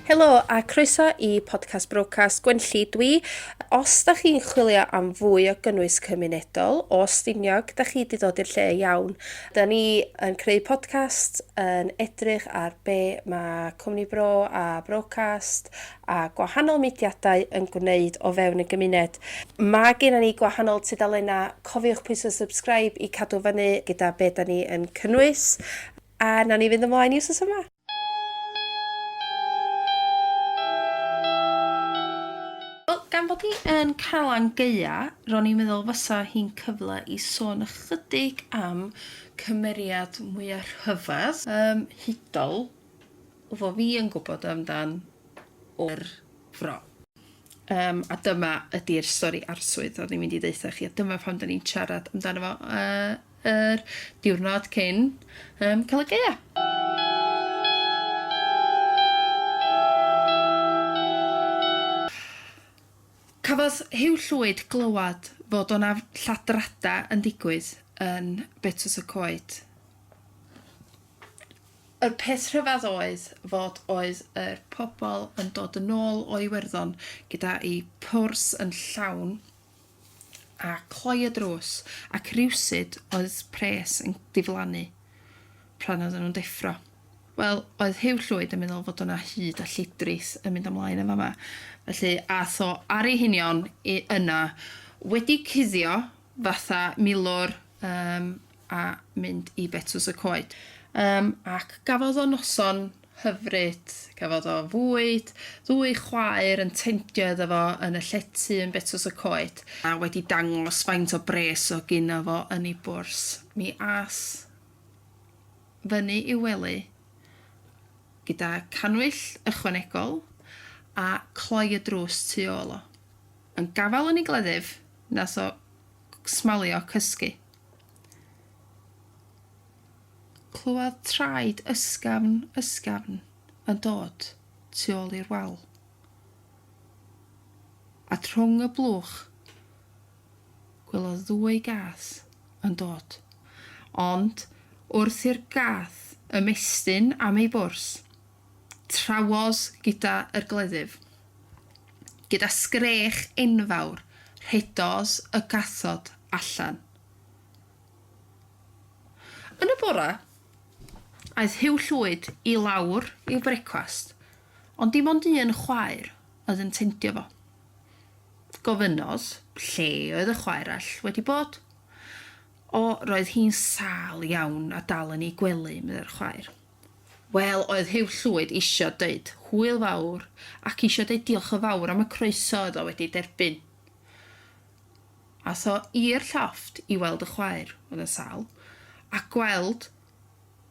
Helo a croeso i Podcast Brocas Gwenlli dwi. Os da chi'n chwilio am fwy o gynnwys cymunedol o Stiniog, da chi di dod i'r lle iawn. Da ni yn creu podcast, yn edrych ar be mae Cwmni Bro a Brocast a gwahanol mudiadau yn gwneud o fewn y gymuned. Mae gen ni gwahanol tudalennau, cofiwch pwysau subscribe i cadw fyny gyda be da ni yn cynnwys. A na ni fynd ymlaen i wsos yma. Wel, gan bod ni yn Calan Gaea, ro'n i'n meddwl fysa hi'n cyfle i sôn ychydig am cymeriad mwyaf rhyfedd, um, hudol, fo fi yn gwybod amdan o'r fro. Yym, a dyma ydi'r stori arswyd o'n i'n mynd i ddeutha chi, a dyma pam da ni'n siarad amdano fo uh, yr diwrnod cyn um, cael y geia. Cafodd Hugh Llwyd glywed fod o'na lladrada yn digwydd yn Betws y Coed. Yr peth rhyfedd oedd fod oedd yr pobl yn dod yn ôl o Iwerddon gyda'i pwrs yn llawn a cloi y drws ac rywsut oedd pres yn diflannu pran oedden nhw'n deffro. Wel, oedd Huw Llwyd yn meddwl fod yna hud a llidrith yn mynd ymlaen yn fama, felly ath o ar ei hunion i yna, wedi cuddio fatha milwr, yym, a mynd i Betws y Coed. Yym, ac gafodd o noson hyfryd, gafodd o fwyd, ddwy chwaer yn tendio iddo fo yn y llety yn Betws y Coed, a wedi dangos faint o bres o' gynno fo yn ei bwrs, mi ath fyny i'w wely gyda cannwyll ychwanegol a cloi y drws tu ôl o. Yn gafael yn ei gleddyf, nath o smalio cysgu. Clywodd traed ysgafn, ysgafn yn dod tu ôl i'r wal. A trwng y blwch, gwelodd ddwy gath yn dod. Ond wrth i'r gath ymestyn am ei bwrs, traws gyda yr gleddyf. Gyda sgrech enfawr rhedodd y cathod allan. Yn y bore, aeth Huw Llwyd i lawr i'w brecwast, ond dim ond un chwaer oedd yn tendio fo. Gofynnodd lle oedd y chwaer all wedi bod. O, roedd hi'n sâl iawn a dal yn ei gwely, meddai'r chwaer. Wel, oedd Huw Llwyd isio deud hwyl fawr ac isio deud diolch yn fawr am y croeso oedd o wedi derbyn. Aeth o i'r llofft i weld y chwaer, oedd yn sâl, a gweld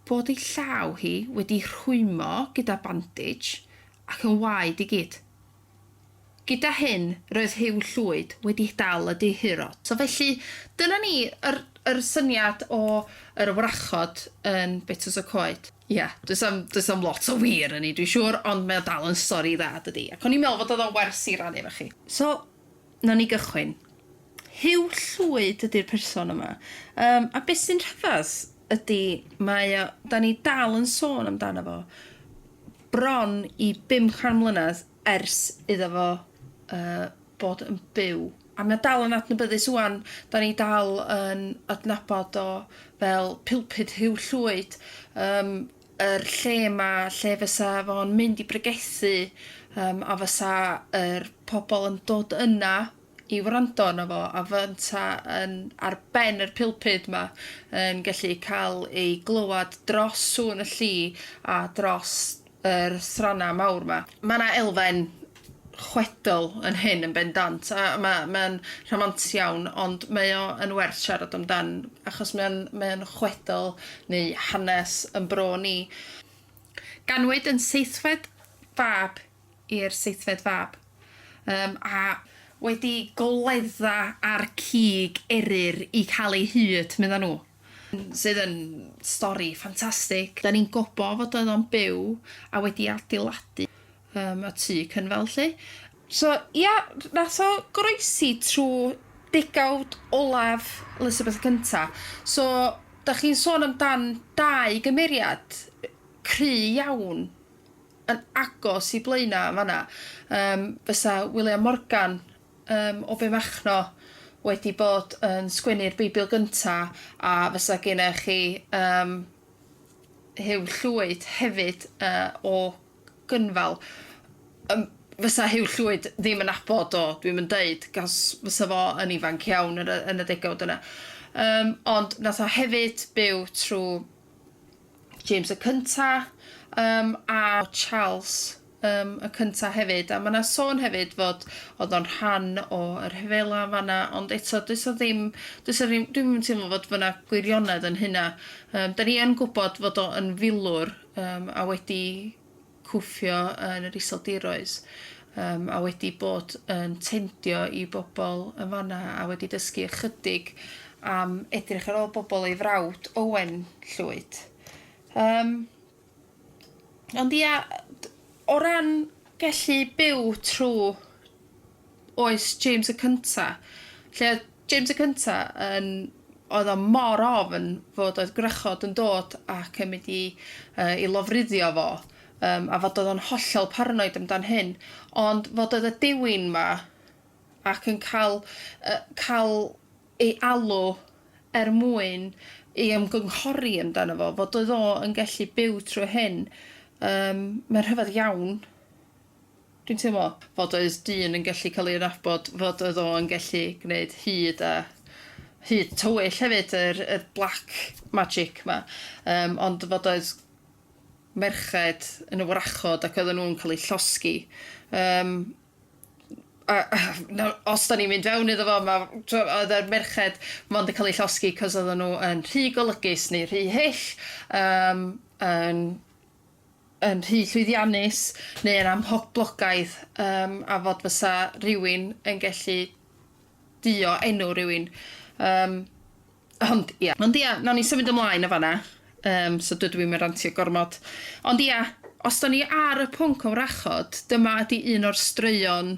bod ei llaw hi wedi rhwymo gyda bandage ac yn waed i gyd. Gyda hyn, roedd Huw Llwyd wedi dal y deheuro. So felly, dyna ni, yr yr syniad o yr wrachod yn Betws y Coed. Ia, does am does am lot o wir yn ni dwi'n siŵr, ond mae o dal yn stori dda dydi? Ac o'n i'n meddwl fod oedd o'n wers i rannu efo chi. So, nawn ni gychwyn. Huw Llwyd ydi'r person yma. Yym, a beth sy'n rhyfedd ydi mae o, da ni dal yn sôn amdano fo. bron i bum can mlynedd ers iddo fo yy bod yn byw, a mae o dal yn adnabyddus ŵan, 'dan ni dal yn adnabod o fel pulpud Huw Llwyd, yym yr lle 'ma lle fysa fo'n mynd i bregethu yym a fysa yr pobl yn dod yna i wrando arno fo a fynta yn ar ben yr pulpud 'ma yn gellu ca'l ei glywad dros sŵn y lli a dros yr sranna mawr 'ma. Ma' 'na elfen chwedl yn hyn yn bendant a ma' ma'n rhamant iawn ond mae o yn werth siarad amdan achos mae o'n mae o'n chwedl neu hanes 'yn bro ni. Ganwyd yn seithfed fab i'r seithfed fab. Yym, a. Wedi goledda ar cig eryr i cael ei hyd, medda nhw. Sydd yn stori ffantastig. Da ni'n gwbo fod oedd o'n byw a wedi adeiladu yym y tŷ cynfal 'lly. So ia, nath o goroesi trw degawd olaf Elizabeth y Cynta. So, da chi'n sôn amdan dau gymeriad cry iawn. yn agos i Blaena' yn fan'na, yym fysa William Morgan yym o Fenmachno wedi bod yn sgwennu'r Beibl gynta', a fysa gennych chi yym Huw Llwyd hefyd yy o Gynfal. Yym fysa Huw Llwyd ddim yn nabod o, dwi'm yn deud, cos fysa fo yn ifanc iawn yn y yn y degawd yna. Yym ond nath o hefyd byw trw James y cynta, yym a Charles yym y cynta hefyd, a ma' 'na sôn hefyd fod o'dd o'n rhan o y rhyfela fan'na, ond eto does 'na ddim does 'na ddim dwi'm yn teimlo fod fan'na gwirionedd yn hynna. Yym 'dan ni yn gwbod fod o yn filwr yym a wedi cwffio yn yr Iseldiroedd yym a wedi bod yn tendio i bobl yn fan'na a wedi dysgu ychydig am edrych ar ôl bobl ei frawd Owen Llwyd. Yym ond ia d- o ran gellu byw trw oes James y Cynta', lle oedd James y Cynta' yn... oedd o mor ofn fod oedd gwrachod yn dod ac yn mynd i yy i lofruddio fo, yym a fod oedd o'n hollol paranoid amdan hyn, ond fod oedd y dewin 'ma ac yn cael yy cael ei alw er mwyn ei ymgynghori amdano fo, fod oedd o yn gallu byw trwy hyn, yym mae'n rhyfedd iawn. Dwi'n teimlo fod oes dyn yn gallu cael ei nabod fod oedd o yn gallu gwneud hud a hud tywyll hefyd yr y black magic ma yym ond fod oedd merched yn y wrachod ac oedden nhw'n cael eu llosgi yym a a nawr os da ni'n mynd fewn iddo fo ma' t'wo' oedd yr merched mond yn cael eu llosgi cos oedden nhw yn rhy golygus neu rhy hyll yym yn yn rhy llwyddiannus neu yn amhoblogaidd yym a fod fysa rhywun yn gellu duo enw rhywun. Yym, ond ia. Ond ia, nawn ni symud ymlaen yn fanna. Yym, so dydw i'm yn rantio gormod. Ond ia, os da ni ar y pwnc o wrachod, dyma ydi un o'r straeon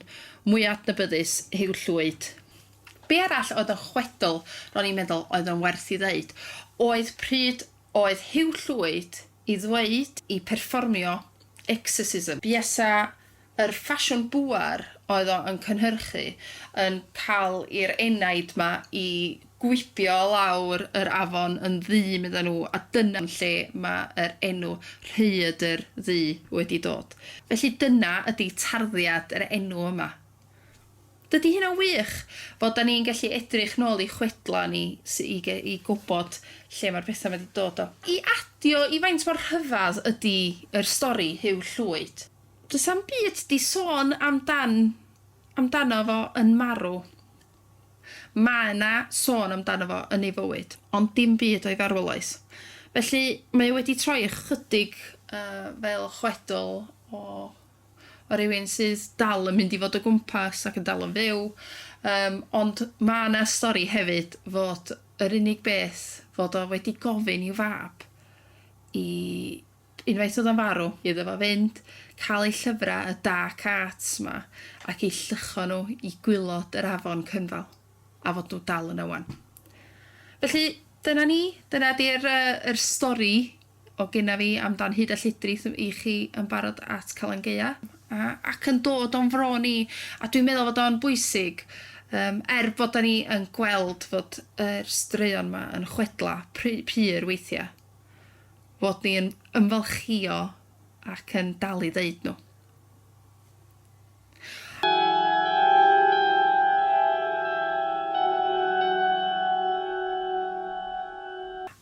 mwya adnabyddus, Huw Llwyd. Be arall oedd yn chwedl, ro'n i'n meddwl, oedd yn werth i ddeud, oedd pryd oedd Huw Llwyd i ddweud i perfformio Exorcism. Buasa yr ffasiwn bŵer oedd o yn cynhyrchu yn cael i'r enaid ma i gwibio lawr yr afon yn ddu medda nhw a dyna lle ma yr enw Rhaeadr Ddu wedi dod. Felly dyna ydi tarddiad yr enw yma. Dydi hynna'n wych? Fel 'da ni'n gallu edrych nôl i chwedlau ni sy- i ge- i gwybod lle mae'r pethau 'ma 'di dod o. I adio i faint mor rhyfedd ydi yr stori Huw Llwyd. Does am byd 'di sôn amdan amdano fo yn marw. Mae 'na sôn amdano fo yn ei fywyd, ond dim byd o'i farwolaeth. Felly mae o wedi troi ychydig yy fel chwedl o o rywun sydd dal yn mynd i fod o gwmpas ac yn dal yn fyw yym ond ma' 'na stori hefyd fod yr unig beth fod o wedi gofyn i'w fab i unwaith o'dd o'n farw iddo fo fynd ca'l ei llyfra y dark arts 'ma ac i lluchio nhw i gwilod yr afon Cynfal a fod nhw dal yna ŵan. Felly dyna ni dyna 'di'r yy yr stori o gynna fi am dan hud a llidri i chi yn barod at Calan Gaeaf. A ac yn dod o'n fro ni a dwi'n meddwl fod o'n bwysig yym er bod da ni yn gweld fod yr straeon ma yn chwedla pry- pur weithia fod ni yn ymfalchio ac yn dal i ddeud nhw.